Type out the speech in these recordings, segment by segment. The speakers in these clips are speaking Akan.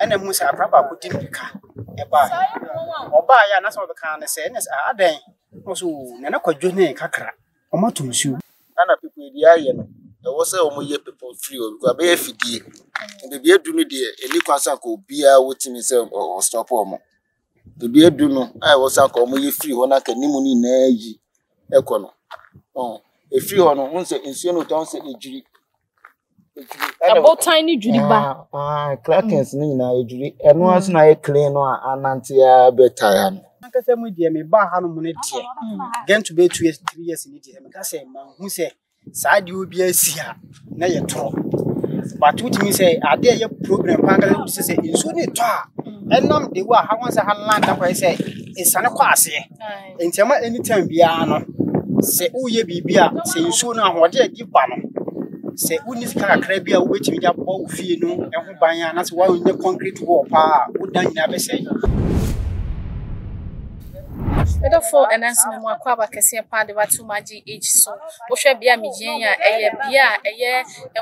ɛna ehu sɛ abra baako di mirika ɛbaa ɔbaa yɛ a na sɛ ɔbɛka ne sɛ ɛna sɛ adɛn na ɔsɛ oo na ne kwadwo ne kakra wɔn ato nsuo. Ana pipo edi ayɛ no ɛwɔ sɛ wɔn yɛ pipo firi o because abɛyɛ fidie beebi edu no deɛ ɛni kwan sɛ anka obiara wotumi sɛ ɔstɔpo wɔn beebi edu no a ɛwɔ sɛ anka wɔn yɛ firi hɔ na anka anim no nyinaa yi ɛkɔ no ɔn efiri hɔ no wɔn sɛ nsuo no tɔn sɛ edwiri ɛbotan ne dwiri ba. crackers ne nyinaa edwiri ɛno ase na ayɛ clean no a anante a bɛtaa ha no. ankasa mu deɛ me ba ha no mu ne deɛ get to be two years three years ne deɛ meka sɛ manhu sɛ saa deɛ obi asi a na yɛ torɔ but wotumi sɛ adeɛ yɛ problem paa kala sɛ sɛ nsuo ne tɔ a ɛnam de wo a ha wɔn sɛ ha land akɔyɛ sɛ nsane kɔ aseɛ. Nti ɛma anytime biara no sɛ woyɛ biribi a sɛ nsuo no ahoɔden a ɛde ba no sɛ wonni sika kakra bi a wobɛtumi de abɔ wo fie no ho ban a anaasɛ woanyɛ concrete wall paa a wo dan nyinaa bɛsɛe. Medɔfoɔ ɛnanso memu akwaaba kɛseɛ paa de bɛato m'agye age so. Wohwɛ bea a megyina yi a ɛyɛ bea a ɛyɛ.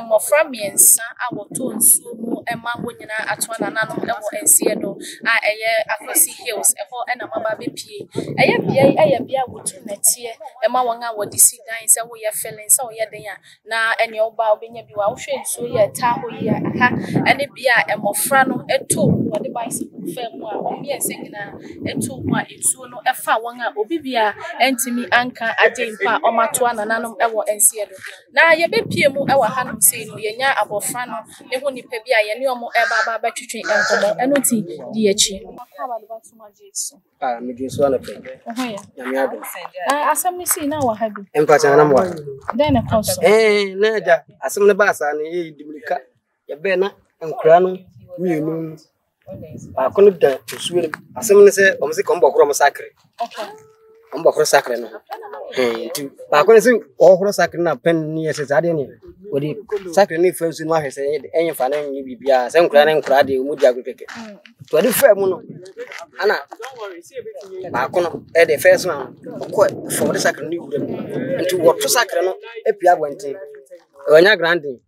Mmofra mmiɛnsa a wɔtɔ nsuo mu ma wɔn nyinaa ato anananom wɔ nseɛ do a ɛyɛ Akwasi Hills, ɛhɔ na wɔaba abɛpue. Ɛyɛ beae yi yɛ beae a wɔtu nnɛteɛ ma wɔn a wɔde si dan, sɛ woyɛ filling, sɛ woyɛ dɛn a, na ɛnea woba a wobɛnya bi wɔ ha. Wohwɛ nsuo yi a ɛtaa hɔ yi a, ha ne bea a mmofra no to mu, wɔde bicycle fa mu a wɔn mmiɛnsa nyinaa to mu a nsuo no fa wɔn a obi biara ntumi nka ade mpo a wɔato anananom wɔ nseɛ do. Na yɛbɛpue mu wɔ hanom sei no, yɛnya abɔfra no ne ho nnipa bi a yɛne wɔn reba aba abɛtwetwe nkɔmmɔ. Ɛno nti, di akyi. Waka w'ade bɛato ma Jesu. Ah, medwen so anɔpa yi. Wo ho yɛ? Nyame adom. Na asɛm no sii na wɔ ha bi. Mpakyɛ, na nam wɔ ha. Dɛn na ɛkɔɔ so? Ɛɛ, na agya, asɛm no baa saa no, yɛyɛ dimirika. Yɛbɛɛ na nkwadaa no mmienu baako no da nsuo no asɛm no sɛ wɔn sɛ kɔn bɔhoro wɔn sakre wɔn bɔhoro sakre no nti baako no sɛ ɔhoro sakre no apɛn ne yɛ sɛ saa deɛ ne wɔde sakre no fa nsuo no ahwɛ sɛ ɛnyɛ fa no nyɛ biribiara sɛ nkwadaa no nkwadaa deɛ wɔn di agorɔ kɛkɛ nti wɔde faa mu no ana baako no ɛde fɛɛ so no ɔkɔ fam de sakre no wura mu nti wɔto sakre no apia abɔnten wɔanya grandin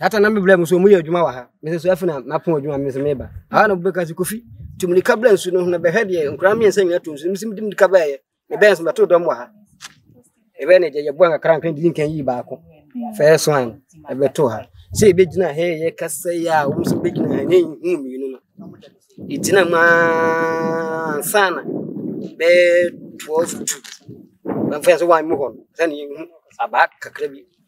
Ata na mebla mu so mu yɛ adwuma wɔ ha. Mese so afei na mapon adwuma mese meba. Aha na bɛka se kofi tum ne kabla nsu no ho na bɛhwɛ deɛ nkura mmiɛnsa nyina to nsu. Mese medim de kabla yɛ. Mebɛn so bɛto dɔm wɔ ha. Ɛbɛn ne yɛ bɔn kakra nkan di nkan yi baako. First one ɛbɛto ha. Sɛ ɛbɛgyina ha yɛ kasa yi a wɔn sɛ bɛgyina ha ne hu mmienu no. Ɛgyina mu ansa na bɛɛ 12 to. Bɛmfa yɛ sɛ wɔn mu hɔ no. Sɛ ne yɛhu abaa kakra bi.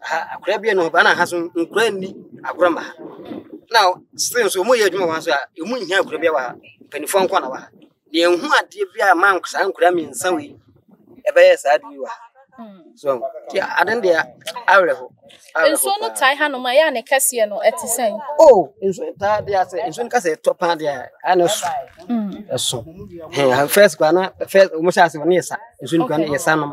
ha akora bi a no ba na ha so nkora nni agorɔ ma ha na still nso wɔyɛ adwuma wɔ ha nso a ɛmu nhia akora bi wɔ ha mpanimfoɔ nko na wɔ ha deɛ ɛho adeɛ bi a ma saa nkora mmiɛnsa wei ɛbɛyɛ saa adeɛ wɔ ha so deɛ ade no deɛ awerɛho nsuo no tae hanom a ɛyɛ a ne kɛseɛ no ɛte sɛn o oh, nsuo no taa deɛ asɛ nsuo no kasɛ ɛtɔ paa deɛ a na ɛso mm. ɛso first kora na first wɔn hyɛ ase wɔn yɛ sa nsuo no kora na yɛ sa nom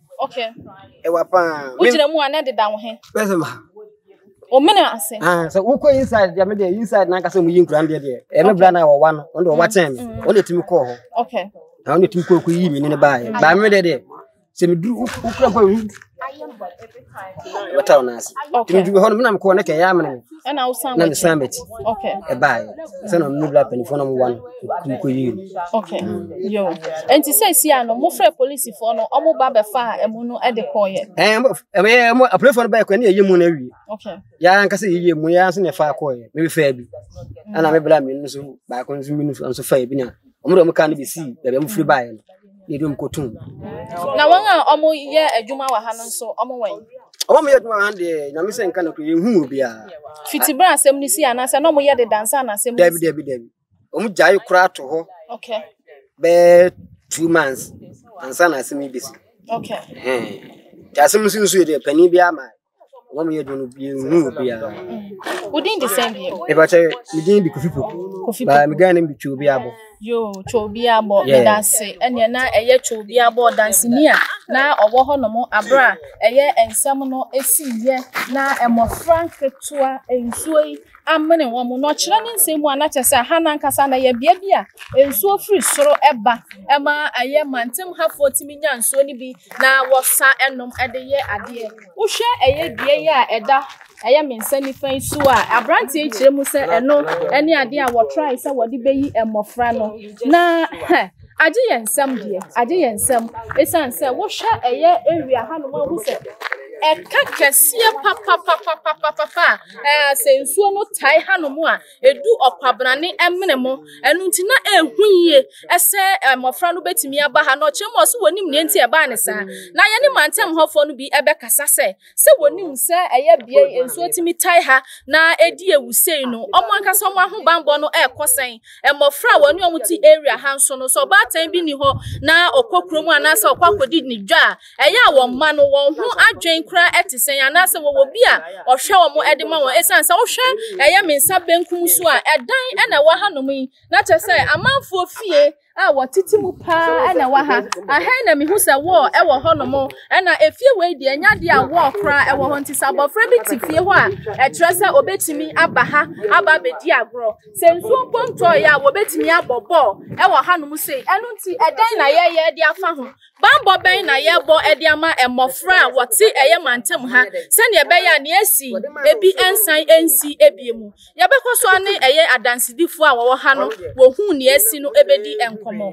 Okay. Ewa pa. Wo jina mu ana de da wo he. Bese ma. O me na ase. Ah, so wo ko inside ya me de inside na kasa mu yin kura de de. E me bra na wo wa no. On do wa chen me. On de timi ko ho. Okay. Na on de timi ko ko yi mi ne ba ye. Ba me de de. Se me dru wo kura pa. Ayem bo every time. Wata ona ase. Timi dru ho no me na me ko ne ke ya me ne. ɛna wosan na mesan bɛkyi ɛbaɛ sɛ na mene bla panifoɔ na mowa no kum kɔyii no ɛnti sɛ si a no mofrɛ polisifoɔ no ɔmo ba bɛfa a ɛmo no de kɔɔyɛ apolifoɔ no bɛɛkɔ ne yɛyɛ mu no awie yɛa nka sɛ yɛyɛ mu yɛa nso ne ɛfa kɔɔyɛ mebɛfaa bi ɛna mebla mmienu nso baako nso mmienu nso faa bi na ɔmo de ɔmo kaa no bɛsii baabi a mofiri baeɛ no na ebinom kɔtɔn mu. Na wɔn a wɔyɛ adwuma wɔ ha no nso, wɔn wɛn? Wɔn yɛ adwuma wɔ ha no deɛ, nyame sɛ nka no koro, yɛnhu mu biara. Fiti berɛ asɛm no si anaasɛ na wɔyɛ de dansa na asɛm no si? Dabi, dabi, dabi. Wɔn gyae koraa to hɔ. Okay. Bɛɛ two months ansa na asɛm yi bɛsi. Okay. Nti asɛm nso nso yɛ deɛ panin biara ma Wɔn mu yɛ dwom no bi nhu obiara. Wo din de sɛn bio? Epa kyɛ, me din de Kofi Poku. Kofi Poku. Ba me gan nim de Twobi Abo. Yo, Twobi Abo. Yeah. Meda se. Ɛneɛ na ɛyɛ Twobi Abo danseni a na ɔwɔ hɔ nom abere a ɛyɛ nsɛm no esi yɛ na mmɔfra nketewa nsuo yi amene wɔn, na ɔkyerɛ ne nsɛm mu a na kyerɛ sɛ ɛha no ankasa na ɛyɛ bea bi a nsuo firi soro ba ma ɛyɛ mantemhafoɔ tumi nya nsuo no bi na wɔsa nom de yɛ adeɛ. Wohwɛ ɛyɛ dua yi a ɛda ɛyɛ me nsa nifa yi so a, aberanteɛ yi kyerɛ mu sɛ ɛno ne adeɛ a wɔtrae sɛ wɔde bɛyi mmɔfra no na hɛ agye yɛn nsɛm deɛ agye yɛn nsɛm ɛsiane sɛ wohwɛ ɛyɛ area hanom ahu sɛ ɛka kɛseɛ papapapapapa a Ɛɛ, sɛ nsuo no tae hanom a, ɛdu ɔkwabrane mene mo. Ɛno nti na ɛhu yie sɛ mmɔfra no bɛtumi aba ha. Na ɔkyerɛ mu ɔso wɔnim neɛ nti ɛbaa ne saa. Na yɛne mantam hɔfoɔ no bi ɛbɛkasa sɛ, sɛ wɔnim sɛ ɛyɛ bea yi nsuo tumi tae ha na ɛdi awu sei no, wɔn ankasa wɔn ahobanbɔ no ɛrekɔ sɛn? Mmɔfra a wɔne wɔn te area ha nso no, sɛ ɔbaatan bi ni hɔ na ɔkɔ kurom anaasɛ ɔkɔ akɔdi ne dwa a, Ɛyɛ a wɔn mma no, wɔn ho adwene koraa te sɛn? Anaasɛ wɔwɔ obi a ɔhwɛ wɔn de ma wɔn? Esiane sɛ wohwɛ ɛyɛ me nsa benkum so a, ɛdan na ɛwɔ hanom yi, na kyerɛ sɛ amanfoɔ fie a wɔtete mu paa na ɛwɔ ha. Ɛha na mehu sɛ wɔɔ wɔ hɔnom, na efie wei deɛ, ɛnyɛ adeɛ a wɔɔ koraa wɔ hɔ. Nti sɛ abɔfra bi te fie hɔ a, ɛkyerɛ sɛ ɔbɛtumi aba ha aba abɛdi agorɔ. Sɛ nsuo mpo ntɔeɛ a, wɔbɛtumi abɔ bɔɔl wɔ hanom sei. Ɛno nti, ɛdan na yɛyɛ de afa ho. Bammɔ bɛn na yɛbɔ de ama mmofra a wɔte ɛyɛ mantam ha sɛnea ɛbɛyɛ a nea asi bi nsan nsi ebie mu? Yɛbɛkɔ so ne ɛyɛ adansedifo a wɔwɔ ha no wɔhuu nea asi no bedi nkɔmmɔ.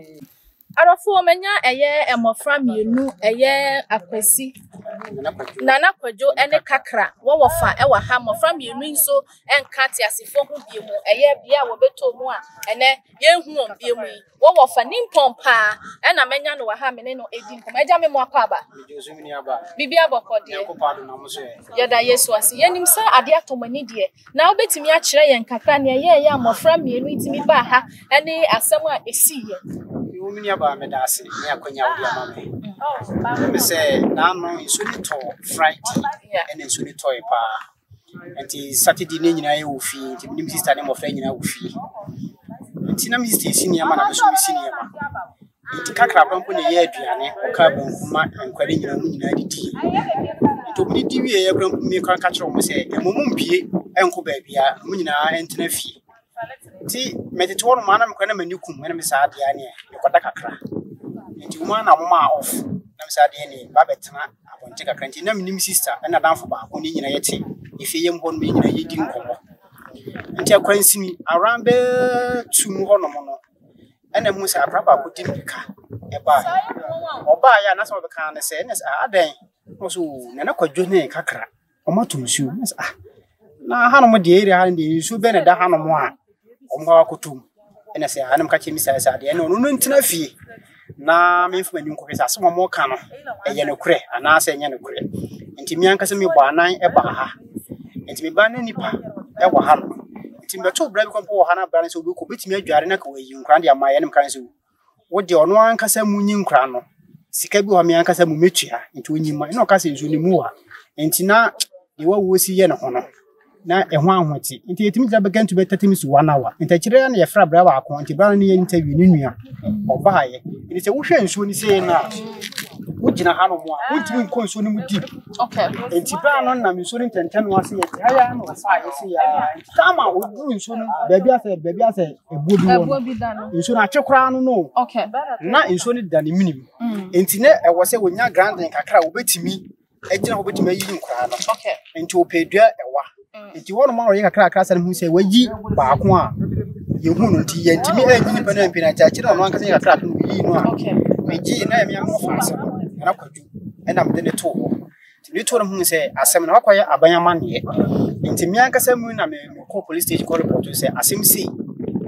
Adɔfo, manya ɛyɛ mmofra mmienu, ɛyɛ Akwasi, Nana Kwadwo ne Kakra. Wɔwɔ fa wɔ ha. Mmofra mmienu nso nka teasefo ho bio mu, ɛyɛ bea a wɔbɛtɔ mu a ɛnɛ yɛnhu wɔn bio mu yi. Wo wɔfa nimpɔn paa ɛna mɛnya no wɔ ha me ne no edi nkɔmɔ agya me mmoa kɔ aba. Megye wo so me nua baa. Biribiara bɔkɔ deɛ. Nyankopɔn adom na mo so ɛ. Yɛda Yesu ase. Yɛnim sɛ adeɛ atɔ mo ani deɛ. Na wobɛtumi akyerɛ yɛn kakra nea ɛyɛɛyɛ a mmɔfra mmienu yi tumi baa ha ɛne asɛm a ɛsiiɛ. Yoo me nua baa meda ase ne akwanya a wode ama me. Ɛwom sɛ na ano nsuo no tɔ Friday ɛna nsuo no tɔe paa. Nti Saturday no nyinaa yɛwɔ fie, nti me ne me sista ne mmɔfra nyinaa wɔ fie. Nti na me sista esi nneɛma na me nso mesi nneɛma. Nti kakraba mpo na ɛyɛ aduane, ɔkaa banku ma nkwa no nyinaa, wɔn nyinaa didi. Nti wɔn didi wieeɛ koraa mpo me koraa meka kyerɛɛ wɔn sɛ, ɛmɔ mu mpue nkɔ baabiara, wɔn nyinaa ntena fie. nti metete hɔ nom a na mekora na m'ani kum ɛna me saa adeɛ a neɛ mekɔda kakra nti wɔn a na wɔn a off na me saa adeɛ neɛ ba bɛtena abɔnten kakra nti na menim sista ɛna danfo baako ne nyinaa yɛte efie yɛm hɔ nom yɛ nyinaa yɛdi nkɔmmɔ nti akwansini around bɛ tu mu hɔ nom no ɛna mu sɛ akora baako di mirika ɛbaa ɔbaa yɛ a na sɛ ɔbɛka ne sɛ ɛna sɛ adɛn na ɔsɛ o nana kwadwo ne kakra wɔatɔ nsuo. Na me sɛ ah, na hanom deɛ area ha no deɛ nsuo bɛn na ɛda hanom a wɔkɔ akɔtɔ mu? Ɛna sɛ hanom ka kyerɛ me sɛ sɛ adeɛ no ɔno no ntena fie na memfa m'ani nkɔhwɛ sɛ asɛm a wɔka no ɛyɛ nokorɛ anaasɛ ɛnyɛ nokorɛ. Nti me ankasa mebɔɔ anan baa ha. Nti me baa na nnipa wɔ hanom. Nti mebɛtoo bra bi kɔn mpo wɔ ha na bra no sɛ ɔbɛkɔ ɔbɛtumi adware na anka wayi nkwadaa no de ama yɛn na meka no sɛ o. wo deɛ ɔno ankasa mu nyi nkora no sika bi wɔ hɔ me ankasa mu mɛtua nti ɔnyi ma ɛna ɔka sɛ nso ne mu wa nti na deɛ wawuo si yɛ ne ho no na ɛho ahote nti yɛtumi gyina bɛka ntu bɛtɛte me su one hour nti akyire ya na yɛfrɛ abira baako nti bra no ne yɛ interview ne nua ɔbaayɛ nti sɛ wohwɛ nsuo no sei no a wogyina ha no mu a wontumi nkɔ nsuo no mu deep Okay. nti bra no nam nsuo no ntɛntɛn no ase yɛ taa yɛ ama ɔsaa yɛ se yɛ nti saa ma wɔduru nsuo no baabi asɛ baabi asɛ ɛbuo bi wɔ no nsuo no akye koraa no no na nsuo no da ne menim mm. nti na ɛwɔ sɛ wɔnya granden kakra a wɔbɛtumi agyina hɔ bɛtumi ayiyi nkoraa no nti wɔpɛ dua ɛwa mm. nti hɔnom a wɔyɛ kakrakra sɛ no hu sɛ wayi baako a yɛhu no nti yɛntumi anyi nipa no ampina nti akyerɛ ɔno ankasa yɛ kakra no yii no a megyee na ɛmeamofa ase no ɛna kwadwu ɛna mede ne too hɔ nti metuo no hu sɛ asɛm no wakɔyɛ aban amanneɛ nti me ankasa mu na mekɔ police station kɔ report sɛ asɛm sei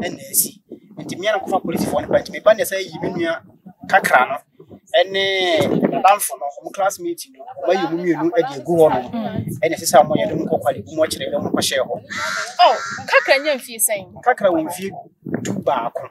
ɛna asi nti me na kɔfa policefoɔ no ba nti meba ne sɛ yi me nua kakra no ɛne nadamfo no ɔmo classmate no ɔmo ayɛ ɔmo mmienu ɛde agu hɔ no ɛna ɛsɛ sɛ ɔmo yɛ de mo kɔkɔ de mo akyerɛ de mo kɔhyɛ hɔ kakra nyɛ mfie sɛn kakra wɔ mfie du baako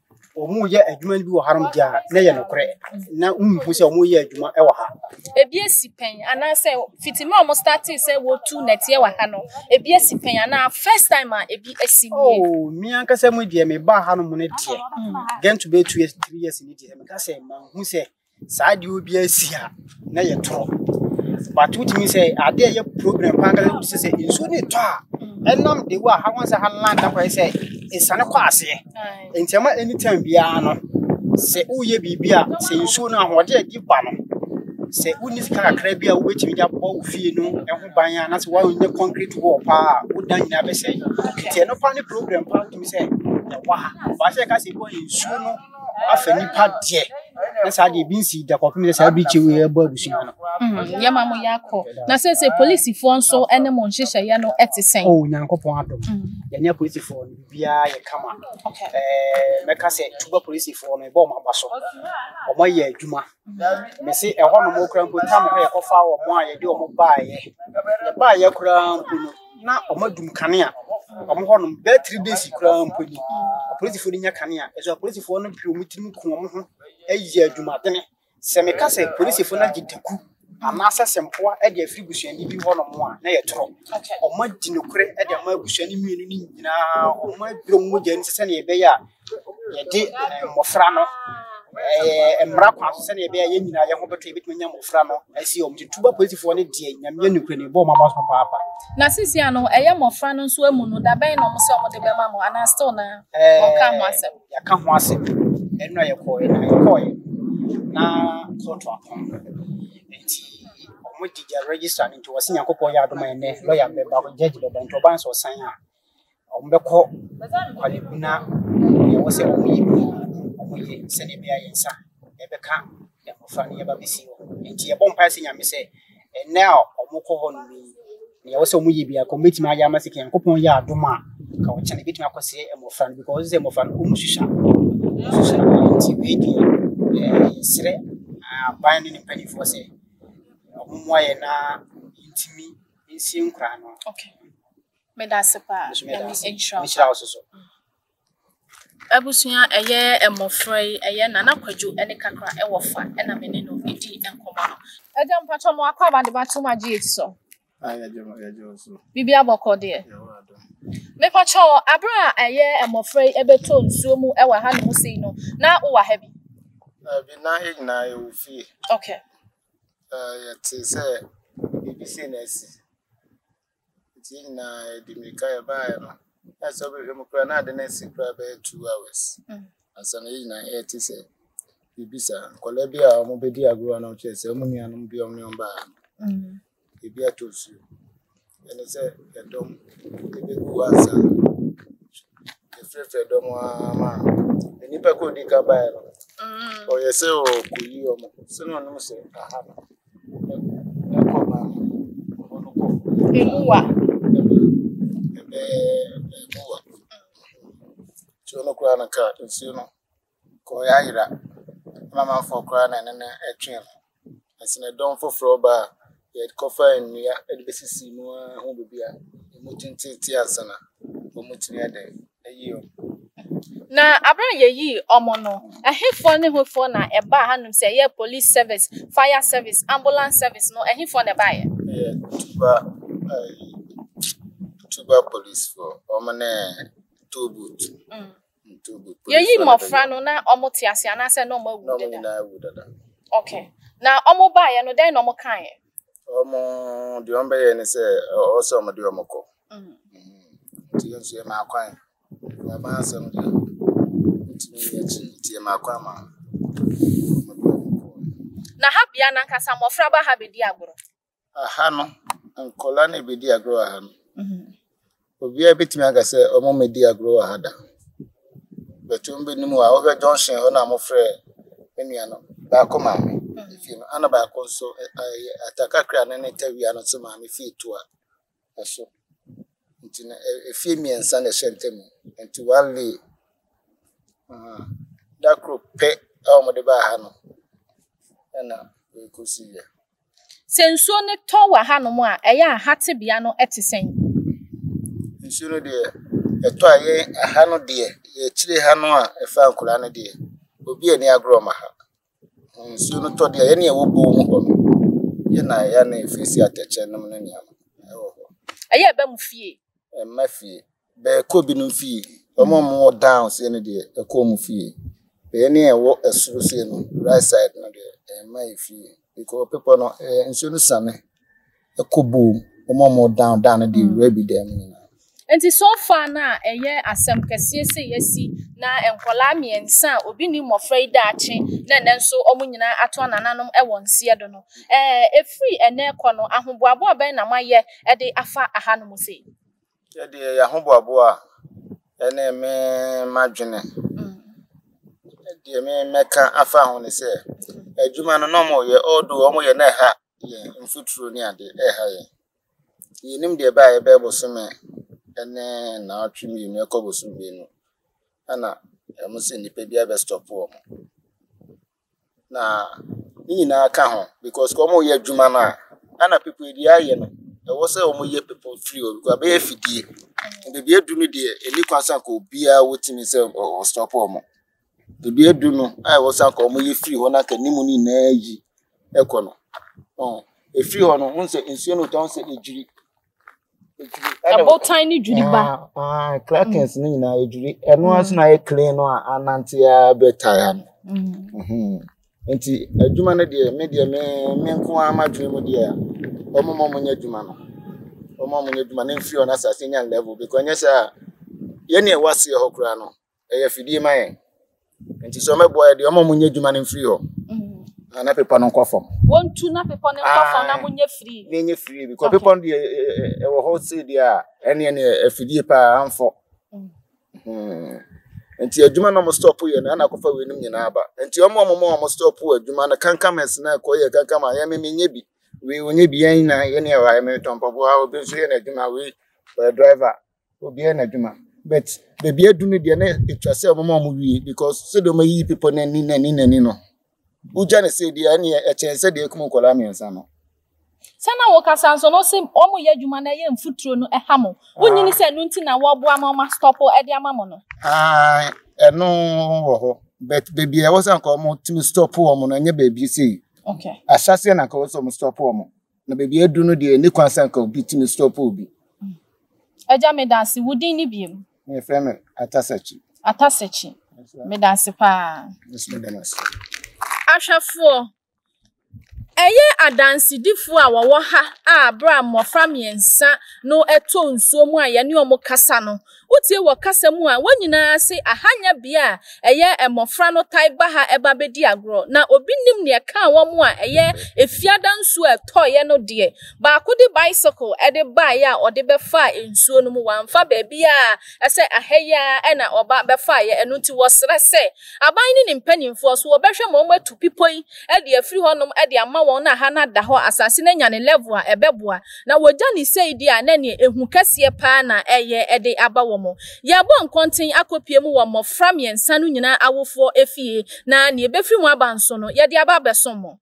wɔyɛ adwuma no bi wɔ hanom deɛ a na yɛ nokorɛ na wonhu sɛ wɔyɛ adwuma wɔ ha ebi asi pɛn anaasɛ fiti mmerɛ a wɔn startee sɛ wɔtu nɛteɛ wɔ ha no ebi asi pɛn anaa first time a ebi asi nie oh me ankasa mu deɛ mebaa hanom no deɛ gɛnto bɛɛ two years three years ne deɛ meka sɛ manhu sɛ saa deɛ obi asi a na yɛ toro but wotumi sɛ adeɛ yɛ problem paa kala sɛ sɛ nsuo ne tɔ a ɛnam de wo a ha wɔn sɛ ha land akɔ sɛ nsane kɔ aseɛ nti ɛma anytime biara no sɛ woyɛ biribi a sɛ nsuo no ahoɔden adi ba no sɛ wonni sika kakra bi a wobɛtumi de abɔ wo fie no ho ban a na sɛ woanyɛ concrete wall paa a woda nyinaa bɛsɛe nti ɛno paa ne problem paa wotumi sɛ ɛwɔ ha baasɛ ɛka sɛ ɛwɔ nsuo no afa nipa deɛ na saa deɛ ebi nsi da kɔpem sɛ saa birikyi wei ɛbɔ abusua no hmm, yɛma mo yɛ akɔ na sɛ sɛ polisifoɔ nso ne mo nhyehyɛeɛ no ɛte sɛn o oh, nyankopɔn adom hmm. yɛne polisifoɔ no biribiaa yɛ kama mɛka sɛ tuba polisifoɔ no ɛbɔ ɔma aba so ɔma yɛ adwuma hmm. me se ɛhɔ nom wokora mpo tam hɔ yɛkɔfa wɔ mo a yɛde ɔmo baayɛ yɛbaayɛ koraa mpo no na ɔmo adum kanea ɔmo hɔ nom bɛyɛ three days koraa mpo ni apolisifoɔ no nya kanea ɛso apolisifoɔ no pii ɔmo tirim ku ɔmo ho ɛyɛ adwumadene sɛ meka sɛ apolisifoɔ no agye daku anaasɛ sɛ mpoa ɛde afiri busuani bi hɔ nom a na ɛyɛ torɔ ɔmo adi nokorɛ ɛde ama abusua no mmienu no nyinaa ɔmo aduro mogya no sɛnea ɛbɛyɛ a yɛde mmɔfra no ɛɛ mmara kwan so sɛdeɛ ɛbɛyɛ yɛn nyinaa yɛn ho bɛtɔ yɛbɛtumi anya mmɔfra no asi wɔn nti tuba polisifoɔ no deɛ nyameɛ ne kura ne bɔ wɔn aba so papaapa na sisi ano ɛyɛ mmɔfra no nso amu no dabɛn na wɔn sɛ wɔn de bɛma mo anaa still na wɔka ho asɛm yɛka ho asɛm ɛno a yɛkɔɔɛ na yɛkɔɔɛ na kɔɔto apɔn nti wɔn di gya register no nti wɔsi nyankopɔn yɛ adoma ɛnɛ lɔya bɛba gyɛgye bɛba nti ɔban sɛ ɔsan a Wɔbɛkɔ Kwalekuna deɛ ɛwɔ sɛ wɔyi no wɔyɛ sɛdeɛ ɛbɛyɛ yɛn nsa ɛbɛka mmɔfra no yɛba bɛsi hɔ nti yɛbɔ mpae sɛ nyame sɛ ɛnɛ a wɔkɔ hɔ no yi deɛ ɛwɔ sɛ wɔyɛ biara kɔ wɔbɛtumi ayɛ ama sɛ nyankopɔn yɛ adom a ka wɔkyɛ no bɛtumi akɔsɛ mmɔfra no because sɛ mmɔfra no wɔn susua wɔn susua nti wei deɛ yɛsrɛ aban ne ne mpanimfoɔ sɛ wɔmmoa yɛn na yɛntumi nsie nkoraa no okay Meda ase paa. Nso meda Nyame ase. nhyira wo Nhyira wo so so. Abusua ɛyɛ mmɔfra yi ɛyɛ Nana Kwadwo ne Kakra ɛwɔ fa ɛna me ne no ɛdi nkɔmɔ no. Agya mpakyɛ mo akɔ aba de ba tom agye yɛti sɔ. Aye agya ma yɛagye wo so. Bibi abɔkɔ deɛ. Yɛwɔ adom. Me pakyɛ wo abere a ɛyɛ mmɔfra yi ɛbɛtɔ nsuo mu ɛwɔ ha nom sei no na wo wɔ ha bi. Daabi na yɛ nyinaa yɛwɔ fie. Okay. Ɛɛ yɛte sɛ bibi sei na asi. Nti yɛn nyinaa yɛde mmirika yɛbaeɛ no, na sɛ wobɛhwɛ mu koraa na ade no asi koraa bɛyɛ two hours ansa na yɛn nyinaa yɛte sɛ biribi saa. Nkwadaa bi a wɔbɛdi agorɔ a na wɔkyerɛ sɛ wɔn nuanom bi a wɔne wɔn baa no, ebi atɔ nsuo. Ɛne sɛ ɛdɔm ɛbɛgu hɔ ansa. Yɛfrɛfrɛ dɔm ara ma nnipa koro a ɔdi kan baeɛ no, ɔyɛ sɛ ɔrekɔyi wɔn. Sɛ na ɔnim sɛ aha no, Emuwa. Nsuo no koraa no kaa nsuo no kɔɔ ayera na amanfoɔ koraa na ɛne no twɛn no nso ne dɔm foforɔ baa yɛkɔfaa nnua de bɛsisii mu ara ho biribiara ɛmu tenteetee ansa na wɔtumi de Na aber a yeyii wɔn no, hefoɔ ne hefoɔ na ɛbaa hanom sɛ ɛyɛ police service, fire service, ambulance service no, hefoɔ na ɛbaeɛ? Ɛyɛ Tuba, ɛyi, Tuba policefoɔ, wɔn ne Tollbooth. Mm. Mm, Tollbooth policefoɔ Yɛyi na mmɔfra bɛyɛ. no na wɔn te ase anaasɛ na wɔn awu Na wɔn deda? nyinaa awu dada. Okay. Na wɔn baeɛ no, dɛn na wɔn kaeɛ? Wɔn, deɛ wɔbɛyɛɛ ne sɛ, ɔ- ɔwɔ sɛ wɔde wɔn kɔ. Nti yɛn nso yɛmaa kwan. Yɛaba asɛm deɛ, ntumi nni akyi nti yɛmaa kwan ma Na ha bea no ankasa mmɔfra ba ha bɛdi agorɔ? Aha no, nkɔla na ɛbɛdi agorɔ wɔ ha no. Mhm. Obiara bɛtumi aka sɛ ɔmo mmɛdi agorɔ wɔ ha da. Bɛtɔ ɔmo bɛnim a, wohwɛ junction hɔ na mofrɛ me nua no, baako maame mhm. fie no, ana baako nso ɛyɛ atakakra no ne tawia no nso maame fie toa. ɛso nti no ɛfie mmiɛnsa na ɛhyɛ ntam nti one lay da koro pɛ a wɔde baa ha no ɛna ɛkɔsi yɛ. Sɛ nsuo no tɔ wɔ hanom a ɛyɛ a ha tebea no te sɛn? Nsuo no deɛ ɛtɔ a yɛn aha no deɛ yɛkyire ha no a ɛfa nkura no deɛ obi ani agorɔ ma ha. Nsuo no tɔ deɛ a, yɛn a yɛwɔ boɔ ho hɔ no, yɛn na yɛn na yɛfiri si atɛkyɛ nom ne nneɛma wɔ hɔ. Ɛyɛ ɛbɛ mu fie. Ɛmma fie. Bɛɛkɔ binom fie. Wɔn a wɔwɔ down seɛ no deɛ, ɛkɔ wɔn fie. Bɛyɛ ne ɛwɔ ɛsoro seɛ no, right side no deɛ, ɛmma yɛ fie. Because bepɔ no, ɛɛ nsuo no siane. Ɛkɔ boom, wɔn a wɔn down down no deɛ wura bi dan mu nyinaa. Nti so far no a ɛyɛ asɛm kɛseɛ sɛ yɛasi na nkwadaa mmiɛnsa a obi nni mmɔfra yi daakye na ɛnɛ nso wɔn nyinaa ato anananom wɔ nseɛ do no. Ɛɛ ɛfiri ɛnɛ rekɔ no ahoboaboa bɛn na moayɛ de afa ahanom sei? Yɛdeɛ yɛahoboaboa a ɛne me madwene deɛ me mɛka afa ho ne sɛ adwuma no na wɔyɛ although wɔyɛ na ɛha yɛn mfuturo ne ade reha yɛn. Yɛnnim deɛ ɛbɛyɛ a yɛbɛyɛ bosome ne nnawɔtwe mmienu ɛkɔ bosome mmienu ɛna wɔn sɛ nnipa biara bɛ stop wɔn. Na ne nyinaa ka ho because wɔn reyɛ adwuma no a ɛna people a deɛ ayɛ no ɛwɔ sɛ wɔn yɛ people firi hɔ because abɛyɛ afidie. Baabi aduru no deɛ ɛnni kwan sɛ anka obiara wɔtumi sɛ ɔ stop wɔn. Dua du no a ɛwɔ sɛ anka wɔyɛ firi hɔ na anka ne mu no nyinaa ayi kɔ no, ɛfiri hɔ no, wohu sɛ nsuo no retɔ, wohu sɛ ɛdwiri. Ɛbotan no dwiri ba. Crackers no nyinaa ɛdwiri. Ɛno ara so na ayɛ clean no a anante ara bɛtae ano. Nti adwuma no deɛ, me deɛ me me nko ara m'adwene mu deɛ, wɔn a wɔnyɛ adwuma no, wɔn a wɔnyɛ adwuma no mfiri hɔ na asase nya level because ɛnyɛ sɛ a yɛn na ɛwɔ aseɛ hɔ koraa no, ɛyɛ afidie ma yɛn nti sɛ ɔmɛboa yɛ deɛ ɔma ɔmo nyɛ adwuma no mfiri hɔ na na pepɔ no nkɔ fam wɔntu na pepɔ no nkɔ fam na monyɛ firi na ɛnyɛ firi bikɔ pepɔ no deɛ ɛwɔ hɔ sei deɛ a ɛne ɛne afidie paa amfɔ nti adwuma na ɔmo stop yɛ no ɛna akɔfa weinom nyinaa aba nti ɔmo ɔmo ma ɔmo stop adwuma no kankamɛs na ɛkɔ yɛ kankama yɛ me menyɛ bi wei onyɛ bi yɛn nyinaa yɛne ɛwɔ ayɛ me tɔmpɔboa obi nso yɛ n'adwuma wei ɔyɛ driver Obiara n'adwuma but baabi adu no deɛ na ɛtwa sɛ ɔmoma ɔmo wie because sɛdeɛ ɔmo ayiyi bepɔ no ani n'ani n'ani no wogya no sɛ deɛ ɛneɛ ɛkyɛn sɛ deɛ ɛkum nkɔlaa mmiɛnsa no. Sɛ na wokasa nso no se ɔmo yɛ adwuma no ɛyɛ mfuturo no ɛha mo wonyi ne sɛ ɛno nti na wɔboa ma ɔma stɔpo ɛde ama mo no. Ae ɛno wɔ hɔ but baabi a ɛwɔ sɛ anka ɔmo tumi stɔpo ɔmo no ɛnyɛ baabi sei. Okay. Ahyɛseɛ na anka ɛwɔ sɛ ɔmo stɔpo ɔmo na baabi adu no deɛ ɛni kwan sɛ nka obi tumi stop obi. Agya meda ase, wo din ne biem? Mefrɛ me Atasakyi. Atasakyi, meda ase paa. Ahwɛfoɔ, ɛyɛ adansedifoɔ a wɔwɔ ha a berɛ a mmɔfra mmiɛnsa no ɛtɔ nsuo mu a yɛne wɔn kasa no, Wotie wɔ kasa mu a wɔn nyinaa ase aha nyɛ bea a ɛyɛ mmofra no taa ba ha ba bedi agorɔ, na obi nnim nea ɛkaa wɔn a ɛyɛ Efiada nsu a ɛtɔeɛ no deɛ. Baako de bicycle de baeɛ a ɔde bɛfaa nsuo no mu. Wamfa baabi a ɛsɛ aha yi ara na ɔba bɛfaeɛ, ɛno nti wɔsrɛ sɛ Aban ne ne mpanimfoɔ so wɔbɛhwɛ ma wɔatu bepɔ yi de afiri hɔnom de ama wɔn na ha no ada hɔ, asase no anya ne level a ɛbɛboa. Na wɔgya no sei deɛ a, na ɛneɛ ehu kɛseɛ pa ara na ɛyɛ de aba wɔn. Yɛrebɔ nkɔnten akɔpue mu wɔ mmɔfra mmiɛnsa no nyinaa awofoɔ efie, na deɛ ɛbɛfiri mu aba nso no, yɛde aba abɛsom mo.